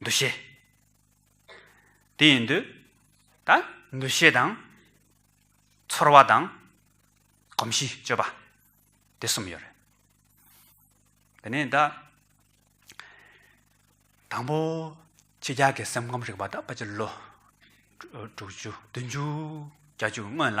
འདུ་ཤེས། དེ་ཡིན་དུས་ད་འདུ་ཤེས་དང། ཚོར་བ་དང། གོམས་གཤིས་སྤྱོད་པ། དེ་གསུམ་ཡོད་རེད། དེ་ནས་ད། དང་པོ་ཁྱི་སྐྱག་གི་སེམས་ཁམས་རིག་པ་ད་ཕ་ཆེར་ལོ། དྲུག་ཅུ་བདུན་ཅུ་གྱ་གཅིག་སྔོན་ལ།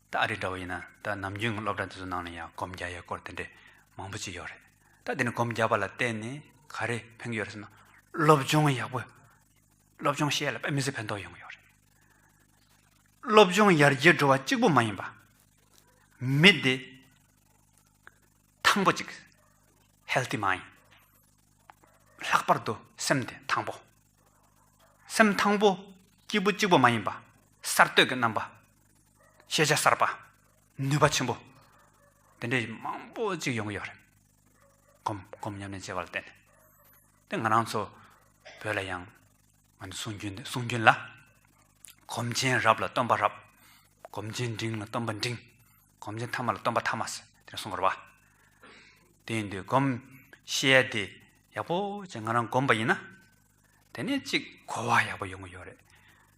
ད་ཨ་རི་འདྲ་བོ་ཡིན་ན་ད་ནམ་རྒྱུན་གྱི་སློབ་གྲྭ་འདི་ཚོ་ནང་ལ་ཡང་གོམ་རྒྱ་ཡས་སྐོར་དེ་འདྲས་མང་པོ་ཅིག་ཡོད་རེད། ད་དེ་ནས་གོམ་རྒྱ་པ་ལ་བལྟས་ནས་ག་རེ་ཕན་གྱི་ཡོད་རེད་ཟེར་ན། སློབ་སྦྱོང་ཡག་པོ། སློབ་སྦྱོང་ཤེས་ཡ་ལ་དཔེ་མི་སྲིད་ཕན་ཐོགས་ཡོང་གི་ཡོད་རེད། སློབ་སྦྱོང་ཡར་རྒྱས་འགྲོ་བ་གཅིག་པོ་མ་ཡིན་པ། མི་བདེ། ཐང་པོ་ཅིག། Healthy Mind། ལྷག་པར་དུ་སེམས་བདེ་ཐང་པོ། སེམས་ཐང་པོ། སྐྱིད་པོ་གཅིག་པོ་མ་ཡིན་པ། གསར་གཏོད་ཀྱི་རྣམ་པ། ཤེས་བྱ་གསར་པ། ནུས་པ་ཆེན་པོ། དེ་འདྲའི་མང་པོ་ཅིག་ཡོང་གི་ཡོད་རེད། གོམ་གོམ་མཉམ་མཉམ་བྱས་པ་ལ་བརྟེན་ནས། དེ་ང་རང་ཚོ་བོད་ལ་ཡང། ང་ཚོ་གསུང་རྒྱུན་གསུང་རྒྱུན་ལ། གོམ་ཆེན་རབས་ལ་སྟོན་པ་རབས། གོམ་ཆེན་འབྲིང་ལ་སྟོན་པ་འབྲིང། གོམ་ཆེན་ཐ་མ་ལ་སྟོན་པ་ཐ་མ། ཟེར་དེ་གསུང་དགོས་རེད་པ། དེ་ཡིན་དུས་གོམ། ཤེས་ཡ་དེ་ཡག་པོ་ཅིག་ང་རང་གོམ་པ་ཡིན་ན། དེ་ནས་གཅིག་གོ་བ་ཡག་པོ་ཡོང་གི་ཡོད་རེད།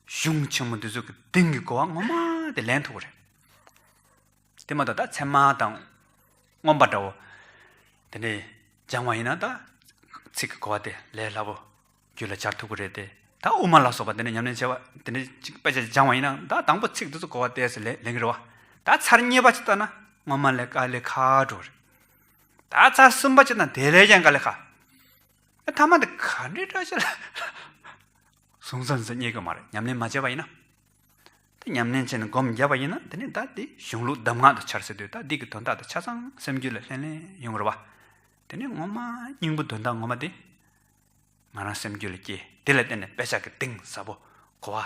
གཞུང་ཆེན་མོ་འདི་ཚོ་གི་དེང་གི་གོ་བ་ངོ་མ་དེ་ལེན་ཐུབ་པ་རེད། དེ་མ་གཏོགས་ད་ཚད་མ་དང་མངོན་པ་འདྲ་བོ་དེ་འདྲས་སྦྱང་བ་ཡིན་ན་ད་ཚིག་གི་གོ་བ་དེ་ལས་སླ་པོ་རྒྱུད་ལ་སྦྱར་ཐུབ་ཀྱི་རེད་དེ། ད་དབུ་མ་ལ་སོགས་པ་དེ་འདྲས་ཉམས་ལེན་བྱེད་པ་དེ་འདྲས་གཅིག་དཔེ་ཆ་གཅིག་སྦྱང་བ་ཡིན་ན་ད་དང་པོ་ཚིག་འདི་ཚོ་གོ་བ་དེ་སོགས་ལེན་གྱི་རེད་བ། ད་ཚར་གཉིས་པ་གཅིག་བཏང་ན་སྔོན་མ་ལས་དཀའ་ལས་ཁག་འགྲོ་གི་རེད། ད་ཚར་གསུམ་པ་གཅིག་བཏང་དེ་ལས་ཀྱང་དཀའ་ལས་ཁག། ཐ་མ་འདི་ག་འདྲའི་སྐྲ་ཆལ། གཟུང་བསམ་ཟིལ་གཉིས་ཀྱི་མ་རེད་ཉམས་ལེན་མ་བྱས་པ་ཡིན་ན། དེ་ཉམས་ལེན་བྱས་ནས་སྒོམ་རྒྱབ་པ་ཡིན་ན་དེ་ནས་ད་དེ་གཞུང་ལུགས་གདམས་ངག་ཏུ་འཆར་སྲིད་དུས་ད་དེ་གི་དོན་དག་དེ་ཆ་ཚང་སེམས་རྒྱུད་ལ་ལྷན་ལྷན་ཡོང་གི་རེད་བ། དེ་ནས་ངོ་མ་སྙིང་པོ་དོན་དག་ངོ་མ་དེ་ང་རང་སེམས་རྒྱུད་ལ་སྐྱེས་དེ་ལ་བརྟེན་ནས་དཔེ་ཆ་གི་གདིང་ཟབ་པོ་གོ་བ།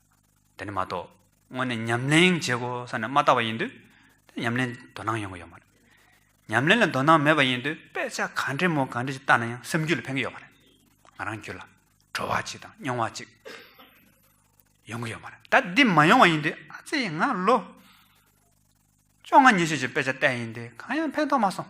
དེ་ནི་མ་གཏོགས་དངོས་ནས་ཉམས་ལེན་བྱེད་དགོས་ས་ནི་མ་བཏགས་པ་ཡིན་དུས། དེ་ཉམས་ལེན་དོ་སྣང་ཡོང་གི་ཡོད་མ་རེད། ཉམས་ལེན་ལ་དོ་སྣང་མེད་པ་ཡིན་དུས་དཔེ་ཆ་ག་འདྲའི་མོ་ག་འདྲ་ཞིག་བལྟ་ན་ཡང་སེམས་རྒྱུད་ལ་ཕན་གྱི་ཡོད་མ་རེད། ང་རང་རྒྱུད་ལ་བྲོ་བ་ཅིག་དང་སྙོང་བ་ཅིག་ཡོང་གི་ཡོད་མ་རེད། ད་འདི་མ་ཡོང་བ་ཡིན་དུས་ཨ་ཙི་ཡིས་ང་ལོ་བཅོ་ལྔ་ཉི་ཤུ་ཞིག་དཔེ་ཆ་བལྟས་ཡིན་དུས་གང་ཡང་ཕན་ཐོགས་མ་སོང།